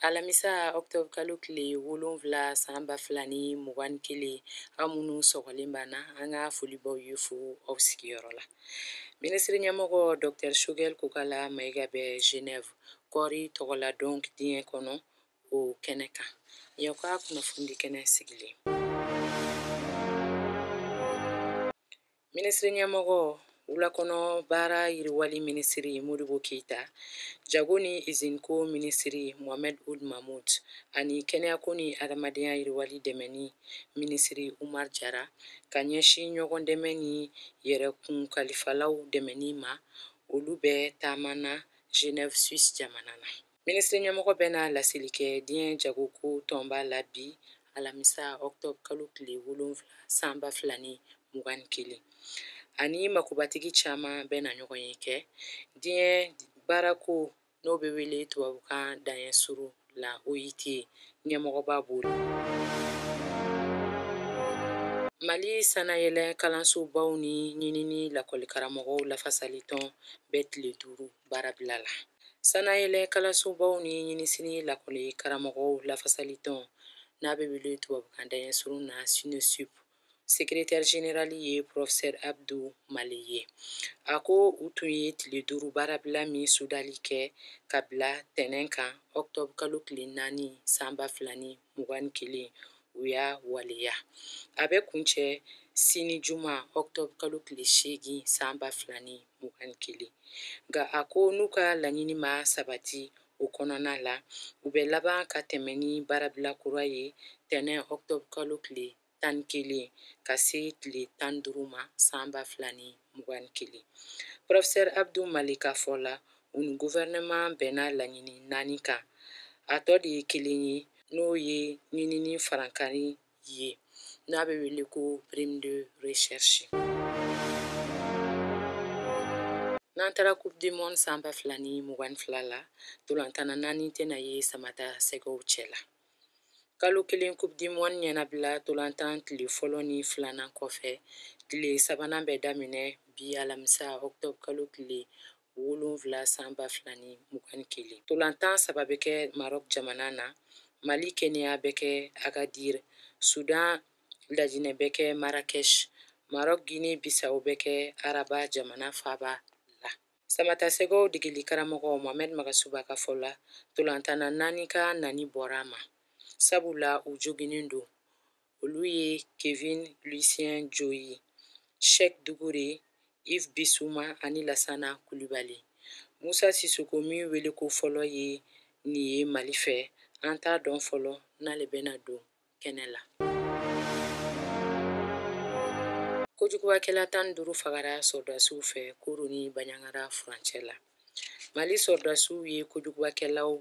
alamisa octobre kalo tile wolonfila san ba fila ni mugan ni kelen aw minnu sɔgɔlen b'an na an ka foli b'aw ye fo aw sigiyɔrɔ la minisiri ɲɛmɔgɔ dɔktɛr choguel kokala mayiga bɛ genève kɔɔri tɔgɔladon diɲɛ kɔnɔ o kɛnɛ kan y'an ka kunnafoni kɛnɛ sigilen minisiri ɲɛmɔgɔ wulakɔnɔ baara yiriwali minisiri modibo keita jago ni iziniko minisiri mohamed ould mahmoud ani kɛnɛyako ni adamadenya yiriwali dɛmɛni minisiri umar jara ka ɲɛsin ɲɔgɔn dɛmɛ ni yɛrɛkun kalifalaw dɛmɛni ma olu bɛ taama na genève suisse jamana na minisiri ɲɛmɔgɔ bɛ na laseli kɛ diɲɛ jagoko tɔnba la bi alamisa octobre kalo tile wolonfila san ba fila ni mugan ni kelen a ni makobatigi caman bɛ na ɲɔgɔn ye kɛ diɲɛ baarako n'o bɛ wele tubabukan daɲɛ suru la oit ɲɛmɔgɔba b'o la mali sanayɛlɛ kalansobaw ni ɲinini lakɔlikaramɔgɔw lafasalitɔn bɛ tile duuru baarabila la sanayɛlɛ kalansobaw ni ɲinisini lakɔli karamɔgɔw lafasali tɔn n'a bɛ wele tubabukan daɲɛ surun na sinesup secrétaire général ye porofisɛri abdu male ye a ko u tun ye tile duuru baarabila min sudali kɛ ka bila tɛnɛn kan octobre kalo tile naani san ba fila ni mugan ni kelen u y'a waleya a bɛ kuncɛ sini juma octobre kalo tile seegin san ba fila ni mugan ni kelen nka a ko n'u ka laɲini ma sabati o kɔnɔna la u bɛ laban ka tɛmɛ ni baarabila kura ye tɛnɛn octobre kalo tile tan ni kelen ka se tile tan duuru ma san ba fila ni mugan ni kelen professeur abdu male ka fɔ la u ni gouvernement bɛnna laɲini naani kan a tɔ de ye kelen ye n'o ye ɲinini farankari ye n'a bɛ wele ko prime de recherche n'an taara coupe du monde san ba fila ni mugan ni fila la tolantanna naani tɛna ye samata sɛgɛw cɛ la kalo kelen coupe du monde ɲɛnabila tolantan tile fɔlɔ ni filanan kɔfɛ tile sabanan bɛ daminɛ bi alamisa octobre kalo tile wolonwula san ba fila ni mugan ni kelen tolantan saba bɛ kɛ marɔk jamana na mali kenya bɛ kɛ agadir sudan lajinɛ bɛ kɛ marrakech marɔk gine bisawo bɛ kɛ araba jamana faaba la samatasɛgɛw degeli karamɔgɔ mohamɛd magasuba ka fɔ la tolantanna naani ka nani bɔra a ma sabula u joginnen don olu ye kevin lucien joyi shek dukure ive bisuma ani lasana kulibali musa sisoko min wele ko fɔlɔ ye nin ye mali fɛ an t'a dɔn fɔlɔ n'ale bɛna don kɛnɛ la kojugubakɛla tan ni duuru fagara sɔrɔdasiw fɛ koro ni baɲagara furancɛ la mali sɔrɔdasiw ye kojugubakɛlaw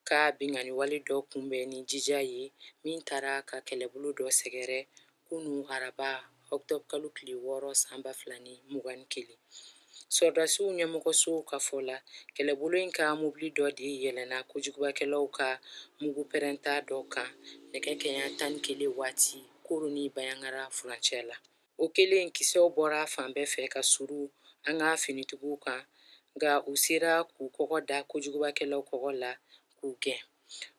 ka binkanniwale dɔ kunbɛn ni jija ye min taara ka kɛlɛbolo dɔ sɛgɛrɛ kunu araba ɔktɔbukalo tile wɔɔrɔ san ba fila ni mugan ni kelen sɔrɔdasiw ɲɛmɔgɔsow ka fɔ la kɛlɛbolo in ka mobili dɔ de yɛlɛnna kojugubakɛlaw ka mugu pɛrɛnta dɔ kan nɛgɛ kanɲɛ tan ni kelen waati koro ni baɲagara furancɛ la O kɛlen kisɛw bɔra fan bɛɛ fɛ ka suuru an ka finitigiw kan nka u sera k'u kɔgɔ da kojugubakɛlaw kɔgɔ la k'u gɛn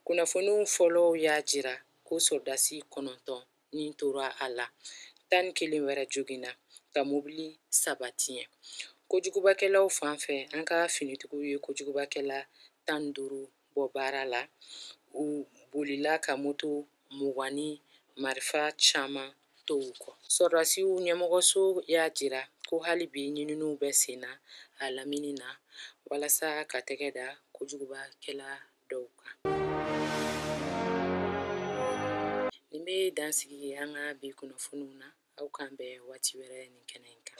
kunnafoniw fɔlɔw y'a jira ko sɔrɔdasi kɔnɔntɔn ni tora a la tan ni kelen wɛrɛ joginna ka mobili saba tiɲɛ kojugubakɛlaw fan fɛ an ka finitigiw ye kojugubakɛla tan duuru bɔ baara la u bolila ka moto mugan ni marifa caman to u kɔ sɔrɔdasiw ɲɛmɔgɔso y'a jira ko hali bi ɲininiw bɛ senna a lamini na walasa ka tɛgɛ da kojugubakɛla dɔw kan nin bɛ dan sigi an ka bi kunnafoniw na aw k'an bɛn waati wɛrɛ nin kɛnɛ in kan